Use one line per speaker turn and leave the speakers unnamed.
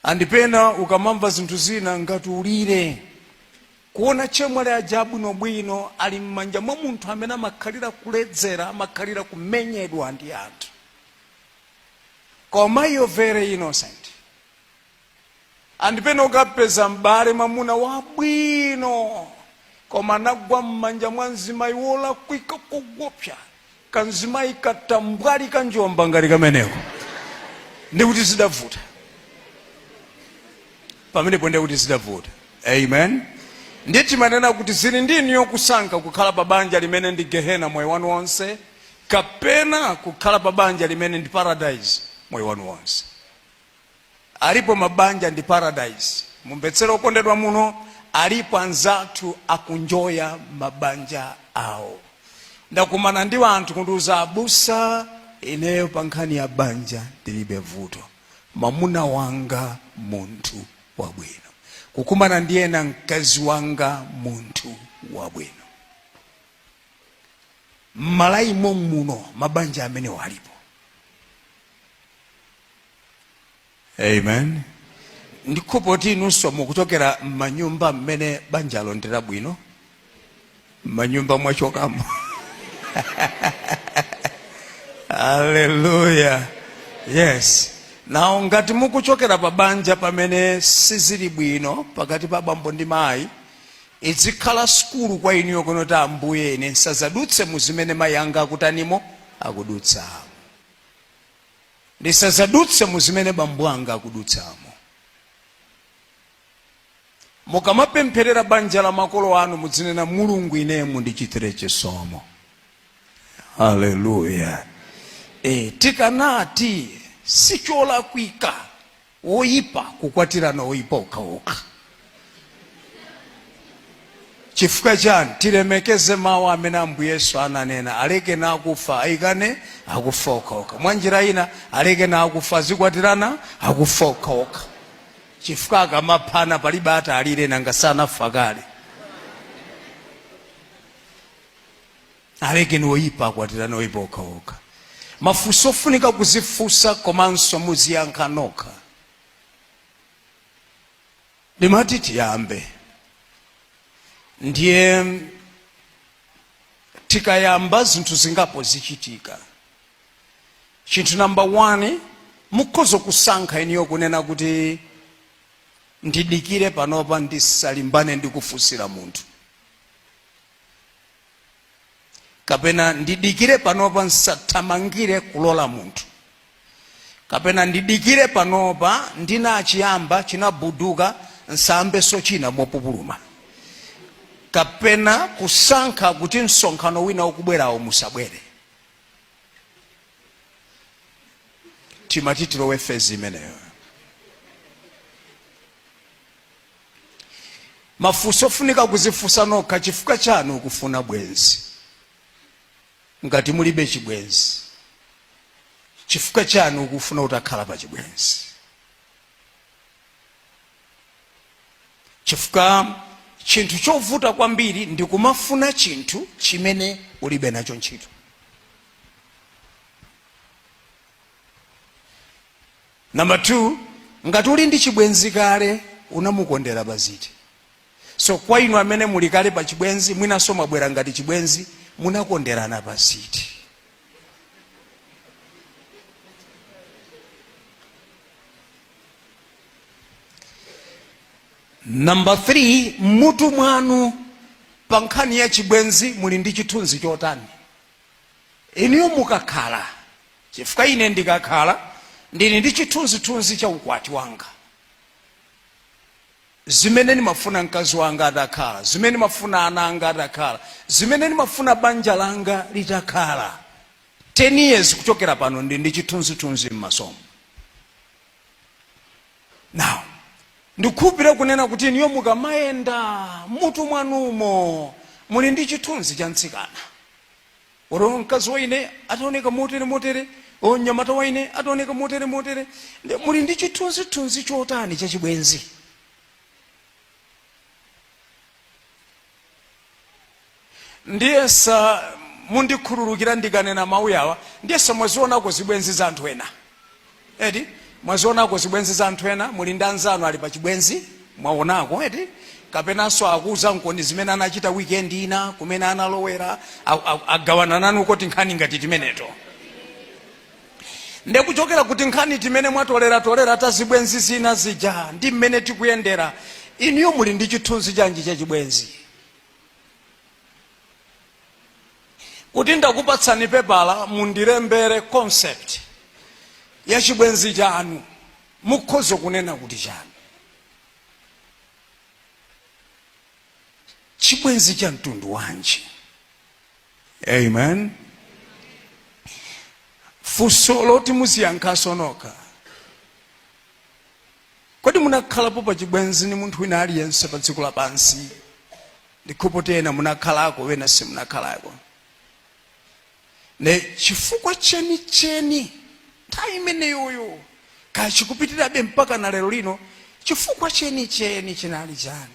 and pena ukamamva zinthu zina ngati ulire kuona chemwali aja abwinobwino ali m'manja mwa munthu amene amakhalira kuledzera amakhalira kumenyedwa ndi anthu koma iyo very innocent and pena ukapeza m'bale mwamuna wabwino koma anagwa m'manja mwa mzimayi wolakwika koopsa kanzimayi katambwali kanjomba ngati kameneko ndikuti zidavuta pamenepo ndiye kuti zidavuta amen ndiye timanena kuti zili ndi inuyo kusankha kukhala pa banja limene ndi gehena moyo wanu wonse kapena kukhala pa banja limene ndi paradise moyo wanu wonse alipo mabanja ndi paradise mumvetsere okondedwa muno alipo anzathu akunjoya mabanja awo ndakumana ndi anthu kundiuza abusa ineyo pa nkhani ya banja ndilibe vuto mamuna wanga munthu wabwino kukumana ndi ena mkazi wanga munthu wabwino m'Malawi mommuno mabanja amenewo alipo amen ndikuthekoti inunso mukuchokera m'manyumba mmene banjalo ndi labwino m'manyumba mwachokamo haleluya yes now ngati mukuchokera pa banja pamene sizili bwino pakati pa bambo ndi mayi izikhala sukulu kwa inuyo kunoti ambuye ine nsazadutse mu zimene mayi anga akutanimo akudutsamo ndisazadutse mu zimene bambo anga akudutsamo mukamapempherera banja la makolo anu mudzinena mulungu ineyo mundichitire chisomo haleluya e, tikanati sicholakwika woyipa kukwatirana oyipa okhaokha chifukwa chani tilemekeze mawu amene ambuye yesu ananena alekeni akufa ayikane akufa okhaokha mwa njira ina alekeni akufa azikwatirana akufa okhaokha chifukwa akamaphana palibe atalire nanga sanafa kale alekeni oyipa akwatirane oyipa okhaokha mafunso ofunika kuzifunsa komanso muziyankha nokha ndimati tiyambe ndiye tikayamba zinthu zingapo zichitika chinthu namba 1 mukhoza kusankha inuyo kunena kuti ndidikire panopa ndisalimbane ndi kufunsira munthu kapena ndidikire panopa musathamangire kulola munthu kapena ndidikire panopa ndinachiyamba chinabuduka musayambenso china mopupuluma kapena kusankha kuti msonkhano wina ukubwerawo musabwere timati tilowe fezi imeneyo mafunso ofunika kudzifunsa nokha chifukwa chani ukufuna bwenzi ngati mulibe chibwenzi chifukwa chani ukufuna utakhala pa chibwenzi chifukwa chinthu chovuta kwambiri ndi kumafuna chinthu chimene ulibe nacho ntchito Number 2 ngati uli ndi chibwenzi kale unamukondera pa ziti? So kwa inu amene muli kale pa chibwenzi mwinanso mwabwera ngati chibwenzi munakonderana pa ziti? Number 3 mmutu mwanu pa nkhani ya chibwenzi muli ndi chithunzi chotani? Inuyo mukakhala Chifukwa, ine ndikakhala ndiri ndi chithunzithunzi cha ukwati wanga, zimene ndimafuna mkazi wanga atakhala, zimene ndimafuna ana anga atakhala, zimene ndimafuna banja langa litakhala, ten years kuchokera pano, ndiri ndi chithunzithunzi mmasomu. Now, ndikukhulupirira kunena kuti inuyo mukamayenda, mmutu mwanumo muli ndi chithunzi cha mtsikana. Or mkazi wa ine ataoneka motere motere, or mnyamata wa ine ataoneka motere motere. Ndi- Muli ndi chithunzithunzi chotani cha chibwenzi? Ndiyesa mundikhululukire ndikanena mawu awa, ndiyesa mwazionako zibwenzi za anthu ena. eti mwazionako zibwenzi za anthu ena muli ndi anzanu ali pa chibwenzi mwaonako eti kapenanso akuuza nkomwe zimene anachita weekend ina kumene analowera a- a- agawana nanu koti nkhani ngati timeneto nde kuchokera ku tinkhani timene mwatoleratolera ta zibwenzi zina zija ndi mmene tikuyendera inuyo muli ndi chithunzi chanji cha chibwenzi kuti ndakupatsani pepala mundilembere concept ya chibwenzi chanu mukhoza kunena kuti chanu chibwenzi cha mtundu wanji amen funso loti mudziyankhenso nokha Kodi munakhalapo pa chibwenzi ni munthu wina aliyense pa dziko lapansi? N'kupoti ena munakhalako, wena simunakhalako. Ne chifukwa chenicheni nthawi imeneyoyo kaya chikupitirabe mpaka na lero lino, chifukwa chenicheni chinali chani?